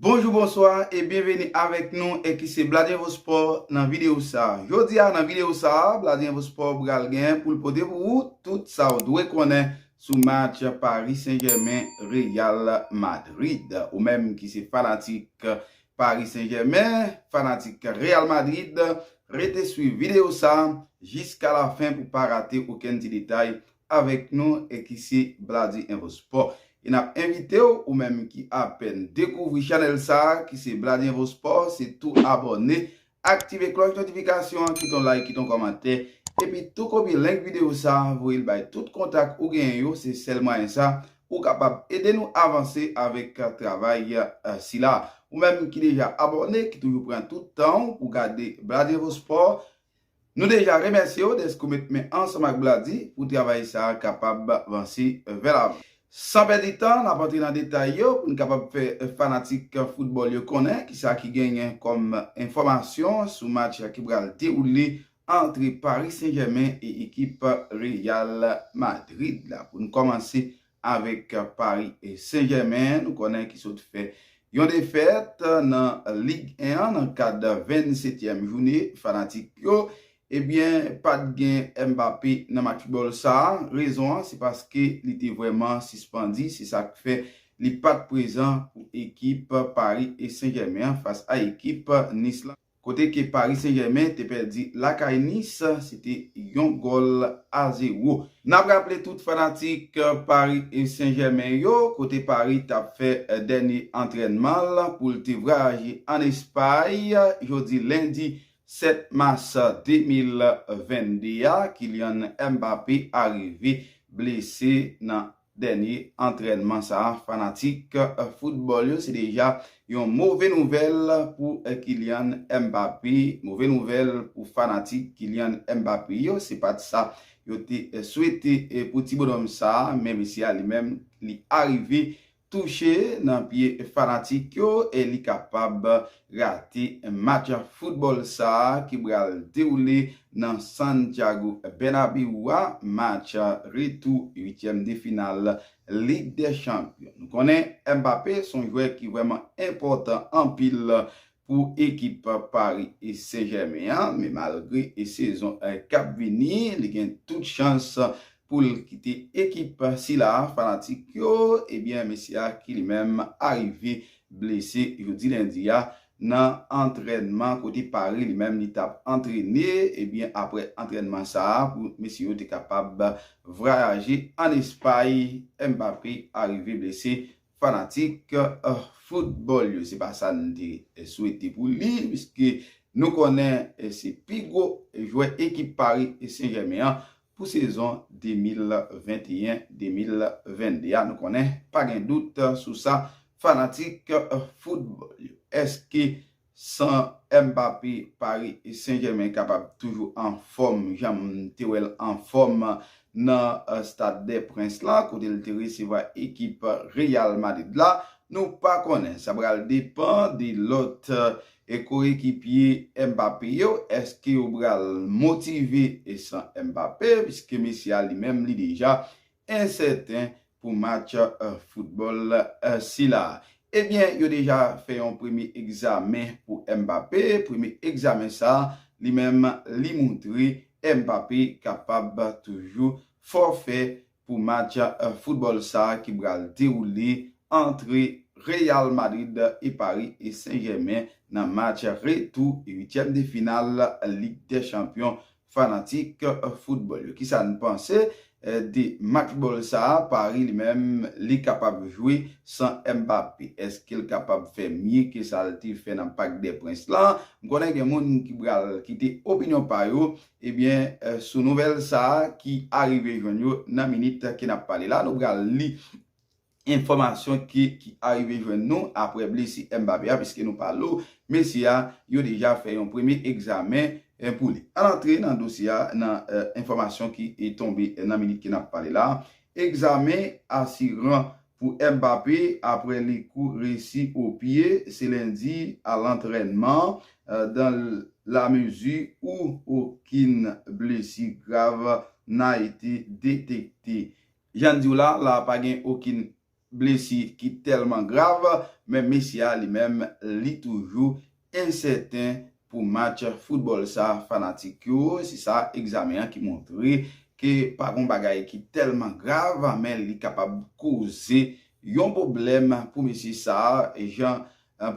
Bonjou bonswa e byenveni avèk nou e ki se Bladenvo Sport nan videyo sa a. Jodi a nan videyo sa a, Bladenvo Sport pral gen pou l pote pou ou tout sa ou dwe konnen sou match Paris Saint Germain Real Madrid. Ou menm ki se fanatik Paris Saint Germain, fanatik Real Madrid, rete swiv videyo sa a jiska lafen pou pa rate okenn ti detay avèk nou e ki se Blady Info Sport e nap envitew ou menm ki apèn dekouvri chanèl sa ki se Blady Info Sport se tou abòne aktive klòch notifikasyon an kite yon like kite yon kòmantè epi tou kopye link video sa voyel bay tout kontak ou genyen yo se sèl mwayen sa ou kapab ede nou avanse avèk travay sila ou menm ki deja abòne ki toujou pran tout tanw pou gade Blady Info Sport Nou deja remèsye w dèske w met men ansanm ak Bladi pou travay sa a kapab vanse vè lavan. San pèdi tan, n ap antre nan detay yo pou n kapab fè fanatik foutbòl yo konnen ki sa ki genyen kòm enfòmasyon sou match ki pral dewoule antre Paris Saint-Germain e ekip Real Madrid la. Pou n kòmanse avèk Paris Saint-Germain nou konnen ki sot fè yon defèt nan Ligue 1 an nan kad 20 setyèm joune fanatik yo ebyen pat gen Mbappé nan match football sa rezon an se paske li te vrèman sispandi se sak fè li pat prezan pou ekip Paris Saint-Germain an fas a ekip Nice lan. Kote ke Paris Saint Germain te pèdi lakay Nice, se te yon gòl a zewo. Nap raple tout fanatik Paris Saint Germain yo, kote Paris tap fè dènye antrènman l pou l te vwayaje an Espay, jodi lendi 7 mas 2022 a, Kylian Mbappé arive blese nan dènye antrènman sa a fanatik foutbòl yo se deja yon move nouvèl pou Kylian Mbappé, move nouvèl pou fanatik Kylian Mbappé yo, se pa t sa yo te swete pou ti bonòm sa a, men mesye a li menm li arive touche nan pye fanatik yo e li kapab rate match foutbòl sa a ki pral dewoule nan Santiago Bernabeu a, match retou uityèm de final Lig dè Chanpyon. Nou konnen Mbappé se yon jwè ki vrèman enpòtan anpil pou ekip Paris Saint-Germain an, men malgre sezon k ap vini, li gen tout chans pou l kite ekip sila a, fanatik yo, ebyen mesye a ki li menm arive blese jodi lendi a nan antrènman kote Paris li menm li t ap antrene, ebyen aprè antrènman sa a pou mesye yo te kapab vrayaje ann Espay, Mbappé arive blese fanatik foutbòl yo. Se pa sa n te swete pou li piske nou konnen se pi gwo jwè ekip Paris Saint-Germain an Pou sezon 2021, 2022 a nou konnen pa gen dout sou sa fanatik foutbòl yo. Eske san Mbappé Paris Saint Germain kapab toujou anfòm jan m te wè l anfòm nan Stade des Princes la kote l te resevwa ekip Real Madrid la nou pa konnen. Sa pral depan de lòt E koyekipye Mbappé yo, èske yo pral motive san Mbappé piske mesye a li menm li deja ensèten pou match foutbòl sila? Ebyen yo deja fè yon premye egzamen pou Mbappé, premye egzamen sa li menm li moutre Mbappé kapab toujou fòfè pou match football sa ki pral dewoule antre Real Madrid e Paris Saint Germain nan match retou 8 tièm de final Lig dè Chanpyon fanatik football yo kisa nou panse de match ball sa Paris li menm li kapab jwe san Mbappé eskel kapab fè mye ke sal te fè nan Parc des Princes lan m konnen gen moun ki pral kite opinyon pa yo Ebyen sou nouvèl sa ki arive jwenn yo nan minit ke nap pale la nou pral li enfòmasyon ki arive jwenn nou aprè blesi Mbappe a piske nou pale ou mesye a yo deja fè yon premye egzamen pou li. Ann antre nan dosye a nan enfòmasyon ki tonbe nan minit ke nap pale la egzamen asiran Pou Mbappé, aprè li kou resi o pye, se lendi a lantrènman, dan la mezi ou okin blesi grav na ete detekte. Jan n di w la, la pa gen okin blesi ki tèlman grav, men mesye a li menm li toujou ensèten pou match foutbòl sa fanatik yo, se sa egzamen an ki montre ke pa gon bagay ki tèlman grav men li kapab koze yon pwoblèm pou mesye sa jan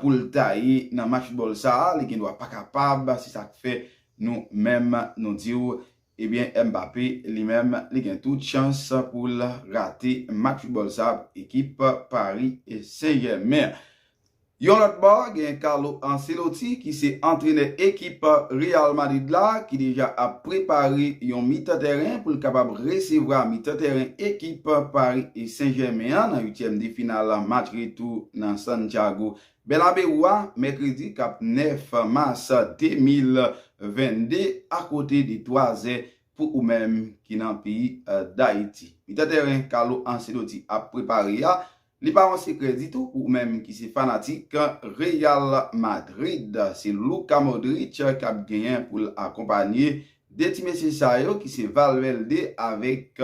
pou l ta ye nan match foutbòl sa li gendwa pa kapab se sa k fè nou menm nou di w Ebyen Mbappé li menm li gen tout chans poul rate match football sa pou ekip Paris Saint Germain. Yon lòt bò gen Carlo Ancelotti ki se antrenè ekip Real Madrid la ki deja ap prepare yon mitan tèren poul kapab resevwa mitan tèren ekip Paris Saint Germain an nan uityèm de final match retou nan Santiago Bèlabe Roi, Mèkredi k ap 9 mas 2022, akonte de 3 zè pou ou menm ki nan peyi Dayiti. Mitan tèren Carlo Ancelotti ap prepare a, li pa yon sekrè ditou pou ou menm ki se fanatik Real Madrid. Se Luka Modric k ap genyen pou l akonpanye 2 ti mesye sa yo ki se Valverde avèk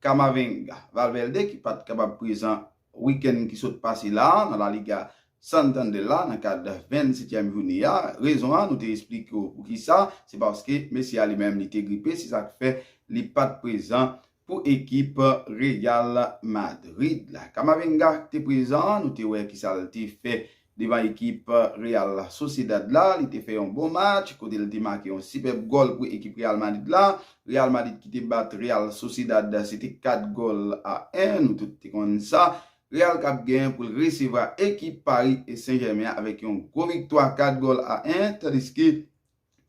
Camavinga. Valverde ki pa t kapab prezan Wikenn ki sot pase la a nan La Liga Santander la nan kad 20 setyèm joune a. Rezon an nou te esplike w poukisa, se paske mesye a li menm li te gripe se sa k fè li pa t prezan pou ekip Real Madrid la. Camavinga te prezan, nou te wè kisa l te fè Devan ekip Real Sociedad la, li te fè yon bon match kote li te make yon sipèb gòl pou ekip Real Madrid la. Real Madrid ki te bat Real Sociedad se te 4 gòl a 1, nou tout te konn sa. Real kap gen pou l resevwa ekip Paris Saint-Germain avèk yon gwo viktwa 4 gòl a 1, tandiske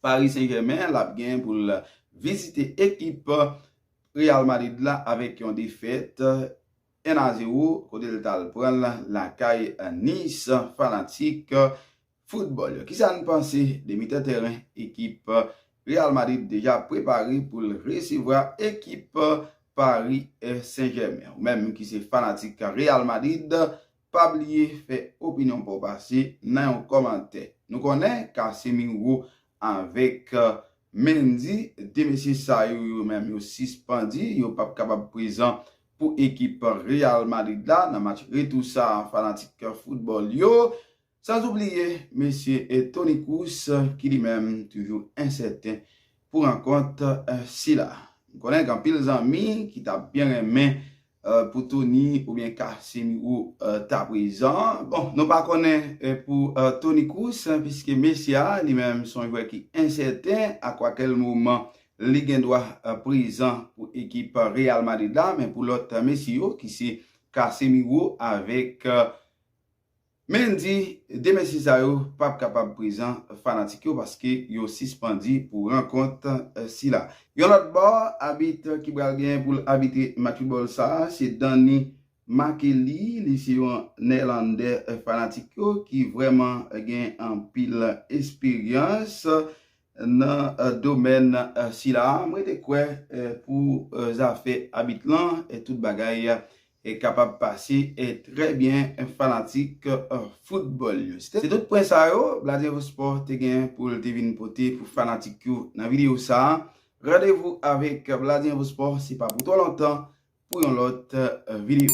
Paris Saint-Germain lap gen pou l vizite ekip Real Madrid la avèk yon defèt. 1 a 0 kote l tal pran l lakay Nice fanatik foutbòl yo kisa n panse de mitan tèren ekip Real Madrid deja ap prepare pou l resevwa ekip Paris Saint Germain ou menm ki se fanatik Real Madrid pa bliye fè opinyon pa w pase nan yon kòmantè nou konnen Casemiro avèk Mendy 2 mesye sa yo yo menm yo sispandi yo pap kapab prezan pou ekip Real Madrid la nan match retou sa a fanatik foutbòl yo, sanzoubliye mesye Toni Kroos ki li menm toujou ensèten pou rankont sila. M konnen gen anpil zanmi ki ta byen renmen pou Toni oubyen Casemiro ta prezan. Bon, nou pa konnen pou Toni Kroos piske mesye a li menm son jwè ki ensèten a kwakèl moman li gen dwa prezan pou ekip Real Madrid la men pou lòt mesye yo ki se Casemiro avèk Mendy 2 mesye sa yo pap kapab prezan fanatik yo paske yo sispandu pou rankont sila. Yon lòt bò, abit ki pral gen pou l abitre match foutbòl sa se Danny Makely, li se yon Nèlandè fanatik yo ki vrèman gen anpil esperyans Nan domèn sila a, mwen te kwè pou zafè abit lan, tout bagay kapab pase trè byen fanatik foutbòl yo. Se tout pwen sa yo Bladevo Sport te gen pou l te vin pote pou fanatik yo nan videyo sa a. Randevou avèk Bladevo Sport se pa pou twò lontan pou yon lòt videyo.